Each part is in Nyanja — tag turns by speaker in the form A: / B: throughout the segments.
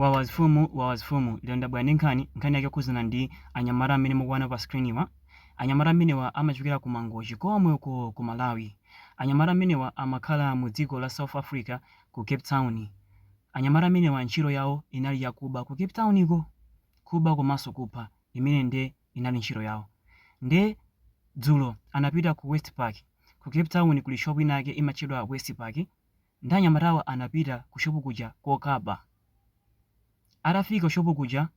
A: Wawa mfumu wawa mfumu lero ndabwera ndi nkhani, nkhani yake yokhudzana ndi anyamata amene mukuwaona pa screen wa. Anyamata amenewa amachokera ku Mangochi komweko ku Malawi. Anyamata amenewa amakhala mu dziko la South Africa ku Cape Town. Anyamata amenewa ntchito yawo inali yakuba ku Cape Town ko. Kuba komanso kupha imene nde inali ntchito yawo. Nde dzulo anapita ku Westpark. Ku Cape Town kuli shop inayake imatchedwa Westpark. Nde anyamatawa anapita ku shop kuja kokaba. Atafika ku shop kuja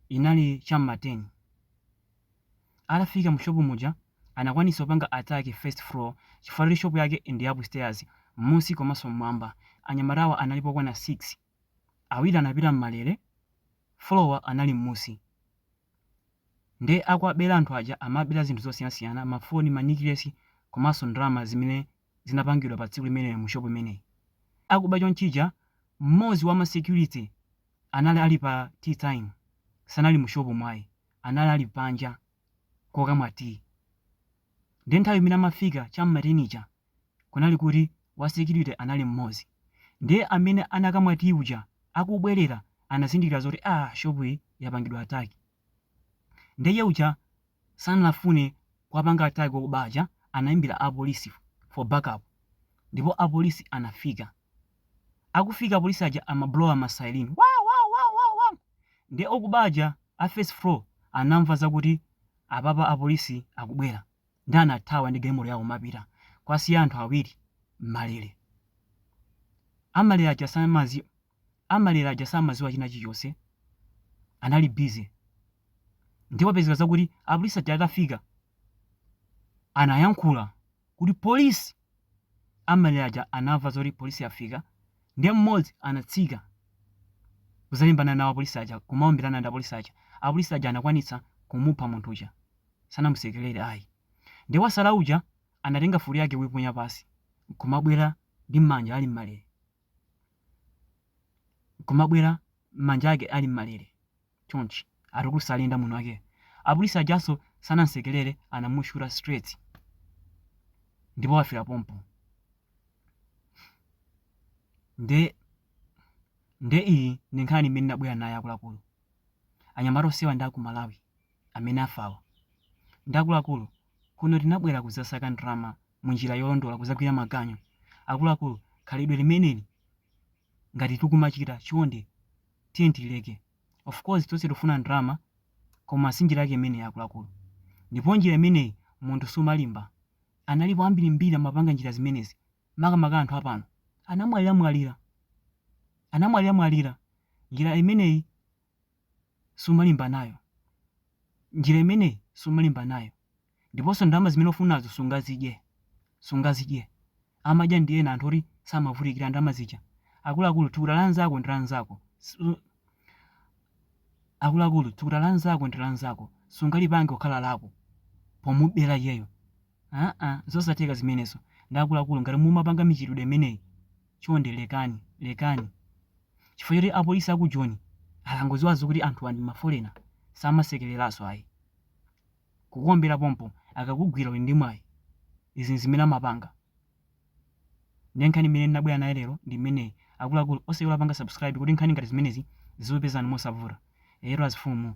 A: inali cha mma 10. Atafika mu shop muja anakwanitsa kupanga attack first floor chifukwa choti shop yake ndi ya upstairs, mmusi komanso mmwamba. Anyamatawa analipo okwana 6. Awiri anapita mmalere, four wa anali mmusi. Nde akuwabera anthu aja amabera zinthu zosiyanasiyana ma phone, ma necklace komanso ndalama zimene zinapangidwa pa tsiku limenelo mu shop imeneyi. Akuba choncho uja mmodzi wa ma security anali ali pa tea time sanali mu shop mu ayi anali ali panja kokamwa tea. Nde nthawi imene amafika cha m'ma 10 ija kunali kuti wa security anali mmodzi ndiye amene anakamwa tea uja akubwelera anazindikira zoti aah shop iyi yapangidwa attack ndiye iye uja sanafune kuwapanga attack okuba aja anaimbira a police for back up ndipo a police anafika akufika apolisi aja ama blowa ma siren wa wa wa wa wa ndiye okuba aja a first floor anamva zakuti apapa apolisi akubwera nde anathawa ndi galimoto yawo kumapita kuwasiya anthu awiri m'malere amalere aja samazi amalere aja samaziwa china chilichonse anali busy nde kupezeka zakuti apolisi aja atafika anayankhula kuti polisi amalere aja anamva zoti polisi yafika ndiye mmodzi anatsika kuzalimbana nawo apolisi aja kumaombirana ndi apolisi aja apolisi aja anakwanitsa kumupha munthu uja sanamusekerere ayi nde wasala uja anatenga futi yake kuiponya pasi nkumabwera ndi mmanja ali mmalere nkumabwera mmanja ake ali mmalere chonchi atukula akuyenda manja ake apolisi ajaso sanamsekerere anamushuta straight ndipo wafera pompo nde nde iyi ndi nkhani imene ndabwera nayo akuluakulu anyamata onsewa ndi aku Malawi amene afawa ndi akuluakulu kuno tinabwera kuzasaka ndalama munjira yolondola kuzagwira maganyu akuluakulu khalidwe limeneli ngati tikumachita chonde tiyeni tilileke of course tonse tikufuna ndalama koma si njira yake imeneyi akuluakulu ndipo njira imeneyi munthu sumalimba analipo ambirimbiri amapanga njira zimenezi makamaka anthu a pano anamwaliramwalira anamwaliramwalira njira imeneyi sumalimba nayo. Njira imeneyi sumalimba nayo. Ndiponso ndalama zimene ufunazo sungazidye. Sungazidye. Amadya ndi ena anthu oti samavutikira ndalama zija. Akuluakulu, thukuta la anzako ndi la anzako. Sungalipange kukhala lako pomubera yeyo. Haa zosatheka zimenezo ndi akuluakulu ngati mumapanga mchitidwe umenewu chonde lekani lekani chifukwa choti apolisi a ku joni akangoziwaso kuti anthuwa ndi ma folena samasekeleraso ayi kukuombera pompo akakugwira uli ndi mwayi izi nzimene amapanga nde nkhani imene ndinabwera nayo lero ndi imeneyi akuluakulu osaiwala kupanga subscribe kuti nkhani ngati zimenezi zizikupezani mosavuta eyetu azifumu